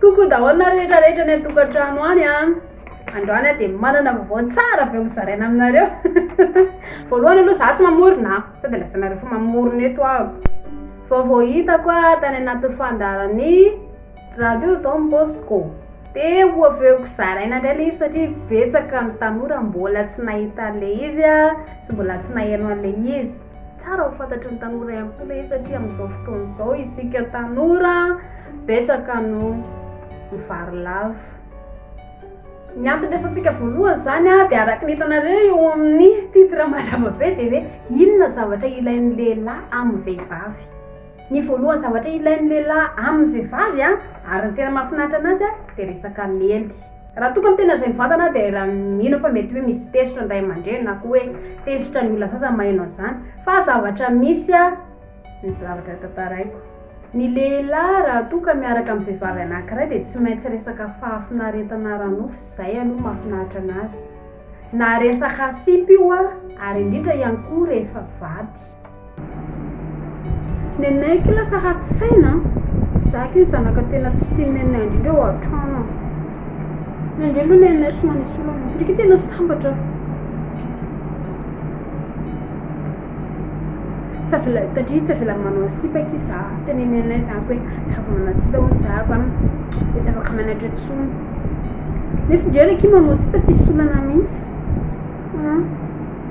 Coucou daholo nareo rehetra rehetra any an-tokantrano any a. Androany aho dia manana vaovao tsara avy eo mizaraina aminareo. Voalohany aloha za tsy mamorona a, sao dia lazainareo fa mamorona eto aho. Vaovao hitako a tany anatin'ny fandaharan'ny radio Don Bosco. Dia ho avy eo zaraina indray le izy satria betsaka ny tanora mbola tsy nahita an'le izy a sy mbola tsy nahaino an'le izy. Tsara ho fantatry ny tanora ihany koa ilay izy satria amin'izao fotoana izao isika tanora betsaka no mivarilavo. Ny antony resantsika voalohany izany dia araka ny hitanareo eo amin'ny titre mazava be dia hoe inona zavatra ilain'ny lehilahy amin'ny vehivavy. Ny voalohany zavatra ilain'ny lehilahy amin'ny vehivavy ary ny tena mahafinaritra anazy dia resaka lely. Raha toa ka miteny an'izay mivantana aho dia raha mino aho fa mety hoe misy tezitra ny ray aman-dreny na koa hoe tezitra ny olona sasany maheno an'izany fa zavatra misy ny zavatra tantaraiko. Ny lehilahy raha toa ka miaraka amin'ny vehivavy anankiray dia tsy maintsy resaka fahafinaretana ara-nofo izay aloha mahafinaritra anazy. Na resaka sipa io ary indrindra ihany koa rehefa vady. Nenaiky lasa ratsy saina an! Za kay zanaka tena tsy tia nenay indrindra ao an-trano an! Na indray aloha nenay tsy manisy olana, ndry kay tena sambatra aho. Tsy avela tatry tsy avela manao sipa aky za, tena nenay zany hoe raha vao manao sipa hono za va de tsy afaka mianatra intsony. Nefa ndry ary aky manao sipa tsisy olana mihitsy.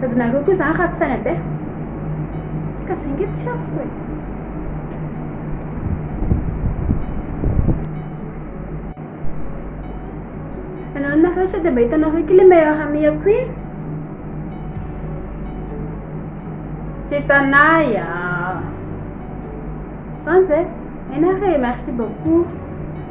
Sady nareo koa zany ratsy saina be. Ka zay nge tsy azoko e. Nanao nareo sady mba hitanareo ity le meilleur ami ako iny. Tsy hitanay ah. Zany ve? Enare, merci beaucoup.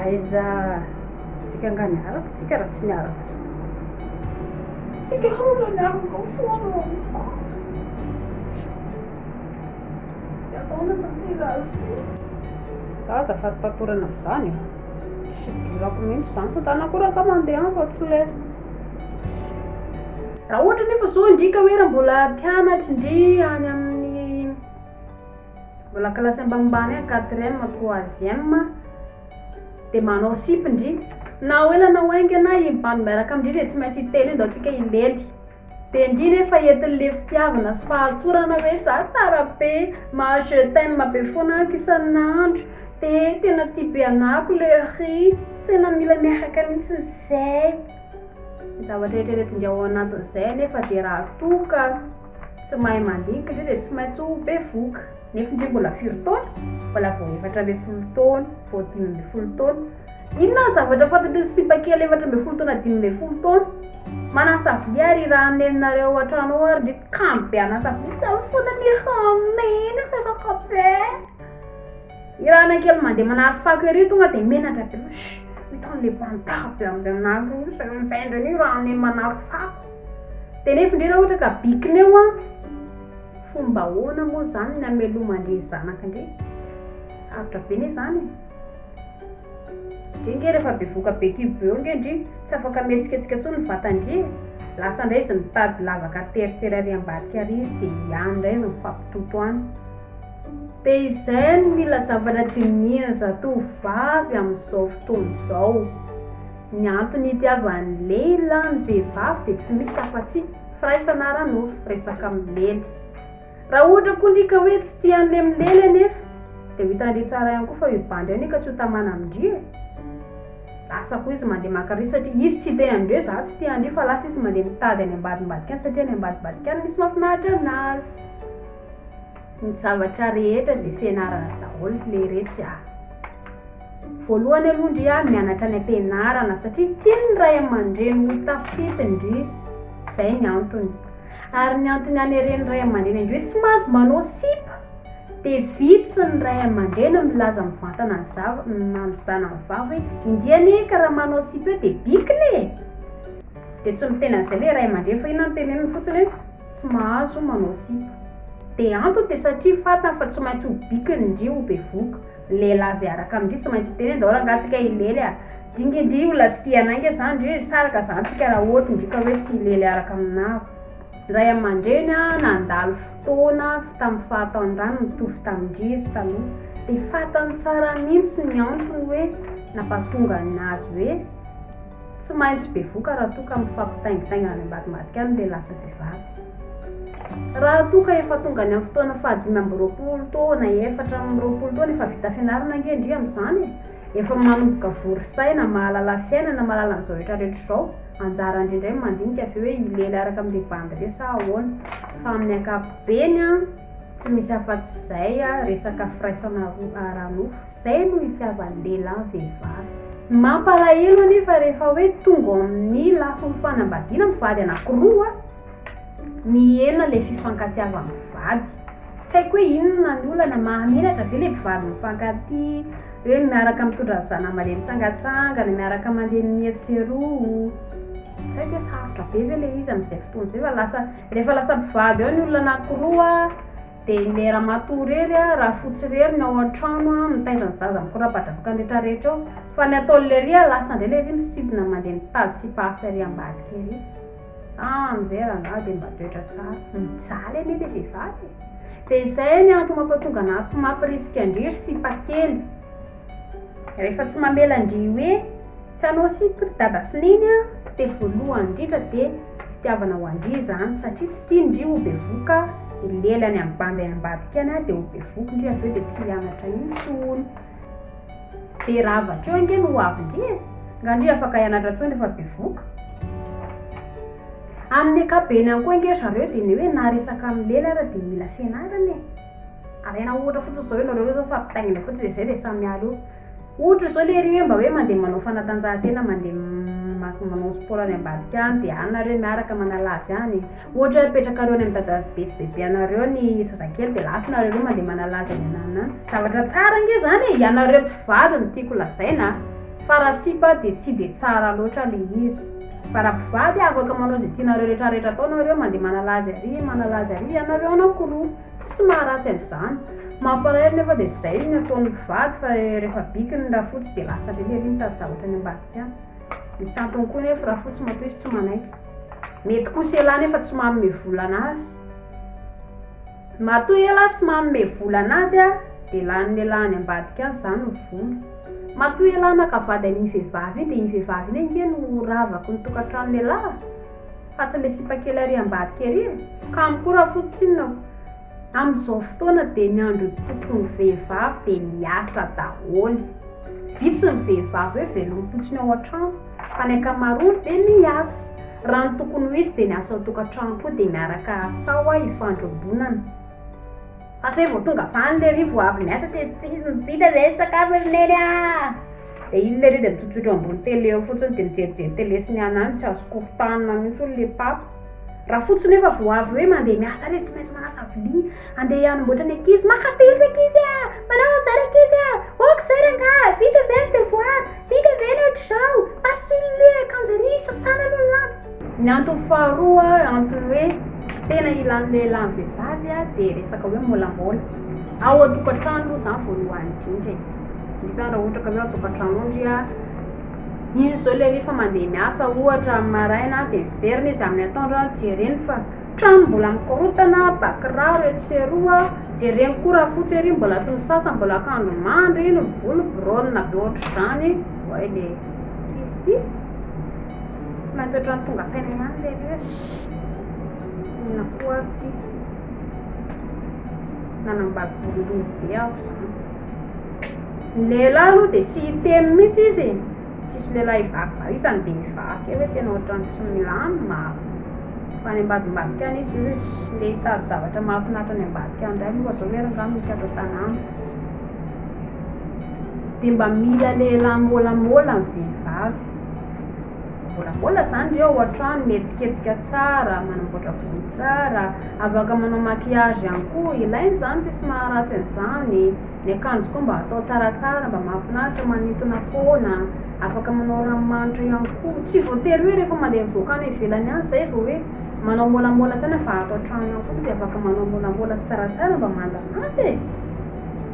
Aiza tsika nga miaraka tsika raha tsy miaraka zany. Tsika hao raha miaraka ao foana ao amiko. Ataona zany ilay zaza ty. Za azafady patorana am'zany e. Tsy idirako mihitsy zany fa zany akory angaha mandeha any fa tsy le. Raha ohatra nefa zao indrika hoe raha mbola mpianatry ndry any amin'ny Mbola kilasy ambanimbany agny quatrième troisième de manao sipa ndry na ho ela na ho aingana iny bandy miaraka amindry de tsy maintsy hiteny io ndao tsika hilely de ndry nefa entinle fitiavana sy fahatsorana hoe za tara be maha je t'aime be foana aky isan'andro de tena tia be anako le riz tena mila miaraka mintsy zay zavatra eritreretin'dry ao anatin'izay nefa de raha toa ka Tsy mahay mandinika ndray dia tsy maintsy ho bevoka. Nefo ndry mbola firy taona? Mbola vao efatra ambin'ny folo taona, vao dimy ambin'ny folo taona. Inona ny zavatra fantatry ny simba kely efatra ambin'ny folo taona dimy ambin'ny folo taona? Manasa vilia ary irahan'ny neninareo ao an-trano ao ary ndry kamo be hanasa vilia fa zaho foana mihamehy reraka be. Irahana kely mandeha manary fako ery tonga dia menatra be. Shh, ito an'ilay mpandaka be amin'ilay anareo io, izay amin'izay ndray no irahan'ny neny manary fako. Tenefo ndre raha ohatra ka bikineo an! Fomba ahoana moa zany ny ameloma ndre zanaka ndre? Sarotra be ne zany e! Ndre nge rehefa bevoka be kibo eo nge ndry tsy afaka mihetsiketsika tsony ny vata ndry e! Lasa ndray izy mitady lavaka teritery ary ambadika ary izy de any ndray izy mifampitoto any. De izay no mila zavatra dinihiny zatovovavy amin'izao fotoana izao. Ny antony itiavan'ny lehilahy ny vehivavy dia tsy misy afa-tsy, firaisana ara-nofo, resaka milely. Raha ohatra koa ndry ka hoe tsy tia an'le milely anefa, dia ho hitandry tsara ihany koa fa io bandy io anie ka tsy ho tamana amin-dry e! Lasa koa izy mandeha maka an'ry satria izy tsy te an-dry hoe za tsy tia an-dry fa lasa izy mandeha mitady any ambadimbadika any satria any ambadimbadika any misy mahafinaritra anazy. Ny zavatra rehetra dia fianarana daholo le iretsy a. Voalohany aloha ndry a mianatra any am-pianarana satria tian'ny ray aman-dreny ho tafita ndry zay ny antony. Ary ny antony haneren'ny ray aman-dreny ndry hoe tsy mahazo manao sipa dia vitsy ny ray aman-dreny milaza mivantana ny zav- ny zanany vavy hoe indry anie ka raha manao sipa eo dia bikina e. Dia tsy miteny an'izay le ray aman-dreny fa inona no teneniny fotsiny hoe tsy mahazo manao sipa. Dia antony dia satria fantany fa tsy maintsy ho bikiny ndry ho bevoka. Ny lehilahy izay hiaraka amindry tsy maintsy hiteny hoe ndao rangahy tsika hilely a! Dingy ndry olona tsy tia anay nge zany ndry hoe saraka zany tsika raha ohatry ndry ka hoe tsy hilely hiaraka aminaro. Ray aman-dreny a, nandalo fotoana tamin'ny fahatanorany mitovy tamindry izy taloha. Dia fantany tsara mihintsy ny antony hoe nampatonga ny nazy hoe. Tsy maintsy bevoka raha toa ka mifampitaingitaingina any ambadimbadika any ilay lasa vehivavy. Raha toa ka efa tonga any amin'ny fotoana fahadimy amby roapolo taona, efatra amby roapolo taona, efa vita fianarana ange ndry amin'izany e! Efa manomboka vory saina, mahalala fiainana, mahalala an'izao rehetra rehetra izao. Anjara ndry indray ny mandinika avy eo hoe hilely araka amin'ilay bandy re sa ahoana. Fa amin'ny ankapobeny an, tsy misy afa-tsy izay an, resaka firaisana ara-nofo. Izay no itiavan'ny lehilahy ny vehivavy. Mampalahelo anefa rehefa hoe tonga ao amin'ny lafiny fanambadiana ny vady anankiroa, mihena ilay fifankatiavan'ny vady. Tsy haiko hoe inona ny olana, mahamenatra ve ilay mpivady mifankatia, hoe miaraka mitondra ny zanany mandeha mitsangatsangana, miaraka mandeha mieroseroa. Tsy haiko hoe sarotra be ve ilay izy amin'izay fotoana izay fa lasa, rehefa lasa mpivady ao ny olona anankiroa, Dia ilay ramatoa irery a, rafotsy irery no ao an-trano a, mitaiza ny zaza mikorapadrafoka ny rehetrarehetra ao. Fa ny ataony lery a, lasa indray lery misintona mandeha mitady sipafy ary ambadika ery. Ah, anve rangahy dia mba toetra tsara. Mijaly anie ilay vehivavy e! Dia izay ny antony mampatonga anà mampirisika an-dry ry sipakely. Rehefa tsy mamela an-dry hoe. Tsy anao sipa ry dada sy neny a, dia voalohany indrindra dia fitiavana ho an-dry izany satria tsy tian-dry ho bevoka i lely any amin'ny bandy any ambadika any a, dia ho bevoky ndry avy eo dia tsy hianatra intsony, dia raha avy akeo ange no ho avin-dry e, nga ndry afaka hianatra intsony rehefa bevoka? Amin'ny ankapobeny ihany koa ange zareo dia ny hoe na resaka amin'ny lely ara dia mila fianarana e, alaina ohatra fotsiny izao ianareo ireo fa mpitaingina fotsiny dia izay dia samy miala eo, Ohatra izao le ry hoe mba hoe mandeha manao fanatanjahantena mandeha maty manao sport any ambadika any de any nareo miaraka manala azy any e ohatra hoe apetrakareo any amin'ny dadabe sy bebe anareo ny zazakely de lasa nareo roa mandeha manala azy any anana any zavatra tsara nge zany e ianareo mpivady no tiako lazaina a fa raha sipa de tsy de tsara loatra le izy fa raha mpivady afaka manao ze tianareo retraretra atao nareo mandeha manala azy ary manala azy ary ianareo anakiroa Tsy maharatsy an'izany. Mampalahelo nefa dia tsy izay no ataon'ny mpivady fa rehefa bikiny ny rafotsy dia lasa lely ery ny tajahotra any ambadika any. Misy antony koa nefa rafotsy matoa izy tsy manaiky. Mety kosa elah nefa tsy manome vola anazy. Matoa elah tsy manome vola anazy ah dia lanin'ny elah any ambadika any izany ny vola. Matoa elah naka vady an'iny vehivavy iny dia iny vehivavy iny ange no ravaky ny tokantranon'elah. fa tsy le sipa kely ary ambadika ery e! kamo koa raha foto tsinona o! amin'izao fotoana dia ny andro ipoton'ny vehivavy dia miasa daholo! vitsy ny vehivavy hoe velom-potsiny ao an-trano fa ny ankamaroany dia miasa! raha ny tokony ho izy dia ny asa ao tokantrano koa dia miaraka atao a ifandrombonana fa tsy hoe vao tonga faly le ry vao avy miasa dia vita izay ny sakafo ry neny a! Dia iny lery dia mitsotsotra ambony tele eo fotsiny dia mijerijery tele sy ny anah any tsy azo koropahina mihitsy hono le pape. Raha fotsiny efa vao avy hoe mandeha miasa re tsy maintsy manasa vilia andeha hanomboatra ny ankizy, maka pily ny ankizy a! manao an'izay ny ankizy a! ok zay rangahy, vita ve ny devoir? vita ve ny ohatr'izao? pasy ny akanjo ery, sasana aloha ny lamba. Ny antony faharoa antony hoe tena ilan'ny lehilahy ny vehivavy dia resaka hoe molamola ao an-tokantrano aloha izany voalohany indrindra e indrindra izany raha ohatra ka hoe ao an-tokantrano ao ndry a iny izao ilay rehefa mandeha miasa ohatra amin'ny maraina dia miverina izy amin'ny atoandro a jereny fa trano mbola mikorotana bakiraro etsy sy eroa jereny koa raha fotsy ery mbola tsy misasa mbola akanjo mandry iny ny volo biraonina be ohatr'izany oay le izy ity Tsy maintsy ohatran'ny tonga saina ihany lery hoe shh! inona koa ary ity? Nanambady voalohany be aho izany. Ny lehilahy aloha dia tsy hiteny mihitsy izy e. Tsisy lehilahy hivaky valizany dia hivaky eo hoe tena ohatran'ny tsy milamina. Fa any ambadimbadika any izy hoe shh! ndeha hitady zavatra mahafinaritra any ambadika any indray moa izao lery angaha misy ato an-tanàna. Dia mba mila lehilahy môlamôla ny vehivavy. Mivôlavôla zany reo ao an-trano, mihetsiketsika tsara, manamboatra volo tsara, afaka manao maquillage ihany koa, ilaigny zany tsisy maharatsy an'izany, ny akanjo koa mba atao tsaratsara mba mahafinaritra, manintona fôna, afaka manao ranomanitra ihany koa, tsy voatery hoe refa mande mivoaka any ivelany any zay vô hoe manao môlamôla saigna fa ato an-trano ao koa de afaka manao môlamôla sy tsaratsara mba manjamaja e.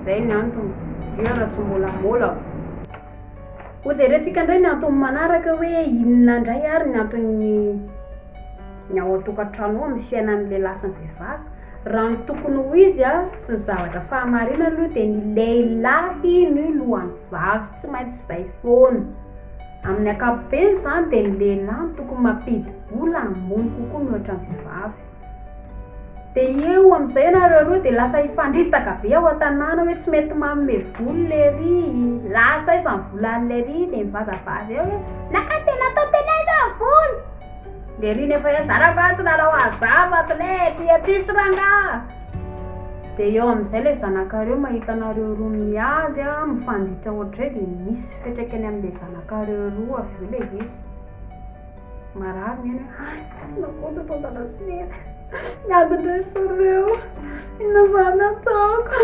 Izay ny antony. Dionana tsy mbola molako. Ho jerentsika indray ny antony manaraka hoe inona indray ary ny anton'ny ny ao an-tokantrano ao amin'ny fiainan'ny lehilahy sy ny vehivavy. Raha ny tokony ho izy a, sy ny zavatra fahamarinana aloha dia ny lehilahy no lohan'ny vavy, tsy maintsy izay foana. Amin'ny ankapobeny izany dia ny lehilahy no tokony mampidi-bola hamono kokoa mihoatra ny vehivavy. Dia eo amin'izay ianareo roa dia lasa hifandritaka be ao an-tanàna hoe tsy mety manome vola lery, lasa aiza ny volany lery, dia mivazavaza eo hoe naka dia natao teny aiza ny vola? Lery nefa hoe zara fa tsy nanao azava tsy le aty aty sy rangahy. Dia eo amin'izay ilay zanakareo mahita anareo roa miady a, mifanditra ohatr'izay dia misy fiantraikany amin'ilay zanakareo roa avy eo ilay izy. Marary ny ainy hoe ay tena namono anao Andalasinena. Miady indray ry zareo. Inona izany ataoko?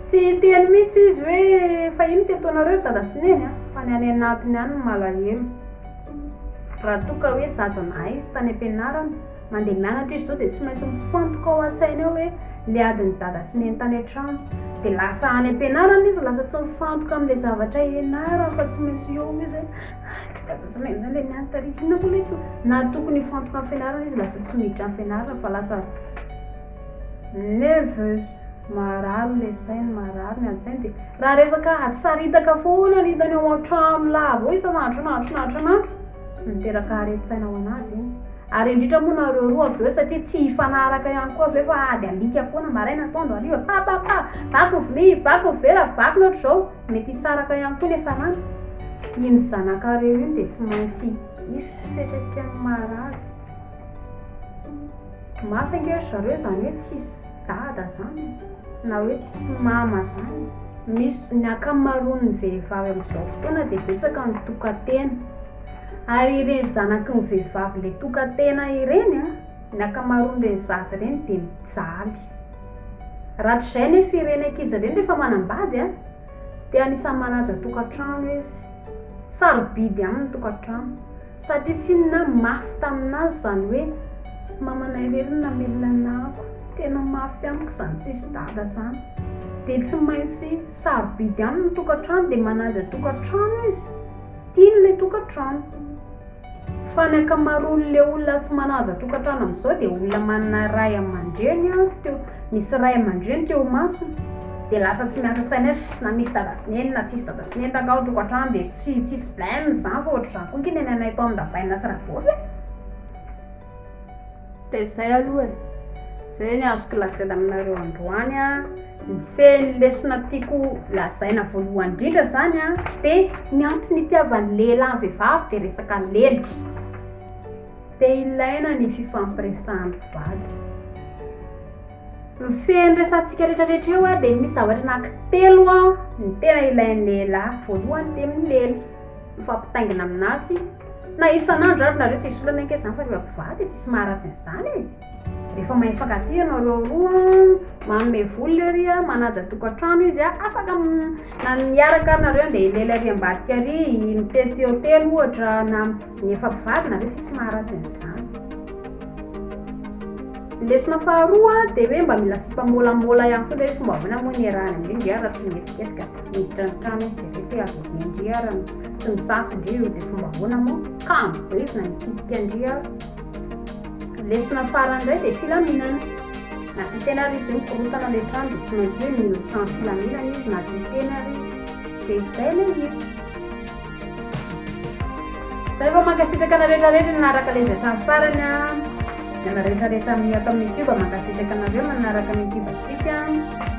Tsy hiteny mihitsy izy hoe fa ino teto anareo ry Andalasinena fa ny any anatiny any no malahelo. Raha toa ka hoe zaza nahay izy tany am-pianarana Mandeha mianatra izy zao dia tsy maintsy mifantoka ao an-tsainy ao hoe le adin'i dada sy neny tany an-trano. Dia lasa any am-pianarana izy lasa tsy mifantoka amin'ilay zavatra ianarany fa tsy maintsy eo izy hoe ah, dada sy neny ilay niany tary. Inona moa ilay to- na tokony hifantoka amin'ny fianarana izy lasa tsy miditra amin'ny fianarana fa lasa nerveuse. Marary ilay sainy, marary ny an-tsainy dia raha resaka ady saritaka foana ny hitany ao an-trano lava ao isan'andro isan'andro isan'andro isan'andro no miteraka haren-tsaina ho an'azy iny. Ary indritra moa nareo roa avy eo satria tsy hifanaraka ihany koa ve fa ady alika foana maraina atoandro hariva papapa vaky ny vilia vaky ny vera vaky ny ohatr'izao mety hisaraka ihany koa ny efa lany iny zanakareo iny dia tsy maintsy hisy fepetra ny marary mafy ange ry zareo izany hoe tsisy dada izany na hoe tsisy mama izany misy ny ankamaroan'ny vehivavy amin'izao fotoana dia betsaka ny tokan-tena Ary ireny zanaky ny vehivavy le tokatena ireny an, ny akamaroan'ireny zaza ireny dia mijaly. Rahatrizay anefa ireny ankizy ireny rehefa manambady an, dia anisan'ny manaja tokantrano izy. Sarobidy aminy ny tokantrano satria tsy inona ary mafy taminazy izany hoe mamanay irery no namelona ny nahako. Tena mafy amiko izany tsisy dada izany. Dia tsy maintsy sarobidy aminy ny tokantrano dia manaja tokantrano izy. Tiany ilay tokantrano. Fa ny ankamaroan'ilay olona tsy manaja tokantrano amin'izao dia olona manana ray aman-dreny teo, misy ray aman-dreny teo imasony. Dia lasa tsy miasa saina hoe ss na misy dada sy neny na tsisy dada sy neny rangahy ao an-tokantrano dia tsy tsisy blem izany fa ohatr'izany koa ange ny anay tao amin'ny Rabaina sy Rabovy e! Dia izay aloha e. Izay ny azoko lazaina aminareo androany an. Ny fehiny lesona tiako lazaina voalohany indrindra izany an, dia ny antony itiavan'ny lehilahy ny vehivavy dia resaka lelika. Dia ilaina ny fifampiresahan'ny vady. Ny fehiny resahantsika rehetrarehetra eo an, dia misy zavatra anankitelo an, ny tena ilain'ny lehilahy. Voalohany dia milely, mifampitaingina aminazy. Na isan'andro ary nareo tsy hisy olana ange zany fa reo mpivady tsy sy maharatsy an'izany e! Rehefa mahay mifankatia ianao reo roa an, manome vola le ry an, manaja tokantrano izy an, afaka na ny hiaraka ary nareo andeha hilely ary ambadika ary mitety hotely ohatra na ny efa mpivady nareo tsy sy maharatsy an'izany. Ny lesona faharoa dia hoe mba mila sipa môlamôla ihany koa le hoe fomba ahoana moa ny iarahana indrindra ianareo raha tsy mihetsiketsika. Miditra ny trano izy dia reto hoe aza be ndry ary an! Tsy misasa ndry io dia fomba ahoana moa? Kamo be izy na nikitika ndry ary. Lesona farany indray dia filaminana. Na tsy hiteny ary izy hoe mikorontana ilay trano dia tsy maintsy hoe mino trano filaminana izy na tsy hiteny ary izy. Dia izay ilay hits. Zay vao mankasitraka anareo rehetra rehetra nanaraka lez hatramin'ny farany a. Ny ana rehetra rehetra ato amin'ny youtube mankasitraka anareo manaraka ny youtube antsika.